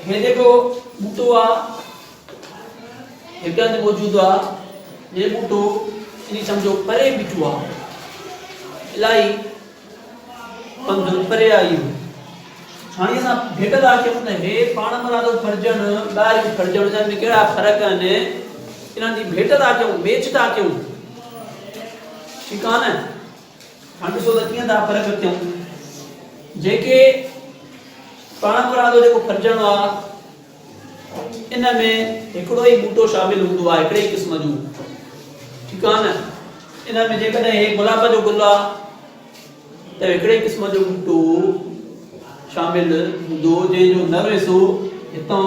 هي جيڪو ٻوٽو آ هتي هنڌ موجود آ هي ٻوٽو اني سمجهو پري بيٺو آ الائي پنڌ پري آئي هو هاڻي اسان ڀيٽ لا چون ته هي پاڻ مرادو فرجن ٻاهر جو فرجن جن ۾ ڪهڙا فرق آهن انهن جي ڀيٽ لا چون ميچ ٿا ڪيون ٺيڪ آ نه هاڻ ڏسو ته ڪيئن ٿا فرق رکيون جيڪي پاڻ مرادو جيڪو ڦرجڻو آ ان ۾ هڪڙو ئي ٻوٽو شامل هوندو آ هڪڙي ئي قسم جو ٺيڪ آ نه ان ۾ جيڪڏهن هي گلاب جو گل آ ته هڪڙي قسم جو ٻوٽو شامل هوندو جنهن جو نر حصو هتان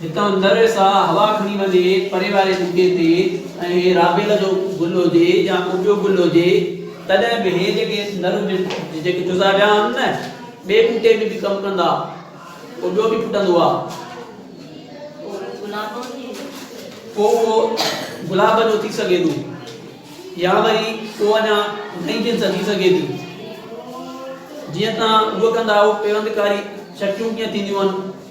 هتان نر سا هوا کڻي وڃي پري واري ٻوٽي تي ۽ رابيل جو گل هجي يا ڪو ٻيو گل هجي تڏهن به هي جيڪي نر هجن جيڪي جزا ويا آهن نه ٻئي ٻوٽي ۾ به ڪم ڪندا پوء ٻيو به ڦٽندو آهي پوء اهو گلاب جو ٿي سگهي ٿو يا وري پوء اڃا نئين جنس ٿي سگهي ٿي جيئن تان اهو ڪندا اهو پيوندڪاري چٽيون ڪيئن ٿينديون آهن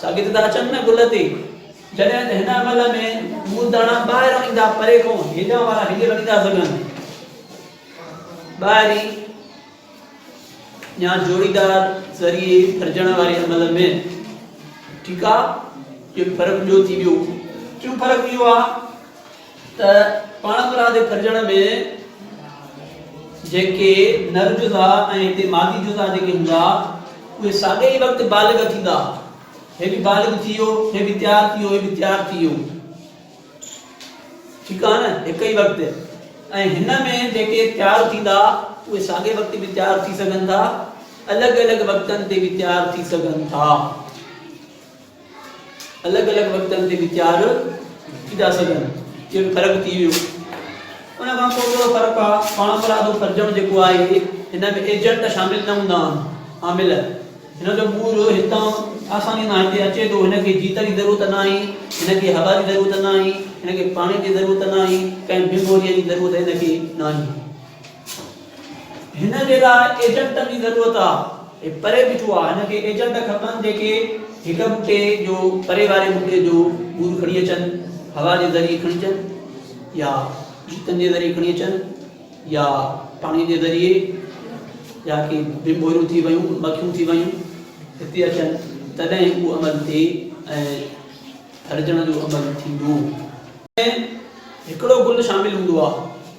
سا گت ٿا اچن نه گل تي. جڏهن ته هن عمل ۾ مرداڻا ٻاهر ايندا پري کون هيڏانهن وارا هيڏي وڃي ٿا سگهن. ٻاهري يا جوڙيدار ذريعي ڦرجڻ واري عمل ۾ ٺيڪ آ جو فرق جو ٿي ويو ڪيو فرق ويو آ ته پاڻ پراء جي ڦرجڻ ۾ جيڪي نر جزا ۽ هتي مادي جزا جيڪي هوندا اهي ساڳئي ئي وقت بالغ ٿيندا هي به بالغ ٿي ويو هي به تيار ٿي ويو هي به تيار ٿي ويو ٺيڪ آهي نه هڪ ئي وقت ۽ هن ۾ جيڪي تيار ٿيندا اهي ساڳئي وقت به تيار ٿي سگهن ٿا الڳ الڳ وقتن تي به تيار ٿي سگهن ٿا الڳ الڳ وقتن تي ويچار ٿي ٿا سگهن اهو به فرق ٿي ويو ان کان پوء ٻيو فرق آهي پاڻ پرادو فرجڻ جيڪو آهي هن ۾ ايجنٽ شامل نه هوندا آهن عامل هن جو مور هتان آساني سان هتي اچي ٿو هن کي جيت جي ضرورت نه آهي هن کي هوا جي ضرورت نه آهي هن کي پاڻي جي ضرورت نه آهي ڪنهن بي بوريء جي ضرورت هن کي نه آهي هن جي لاء ايجنٽن جي ضرورت آ هي پري بيٺو آ هن کي ايجنٽ کپن جيڪي هڪ بوٽي جو پري واري بوٽي جو ٻور کڻي اچن هوا جي ذريعي کڻي اچن يا جوتن جي ذريعي کڻي اچن يا پاڻي جي ذريعي يا ڪي بمبوريون ٿي ويون مکيون ٿي ويون هتي اچن تڏهن اهو عمل ٿئي ۽ ٿرجڻ جو عمل ٿيندو هڪڙو گل شامل هوندو آ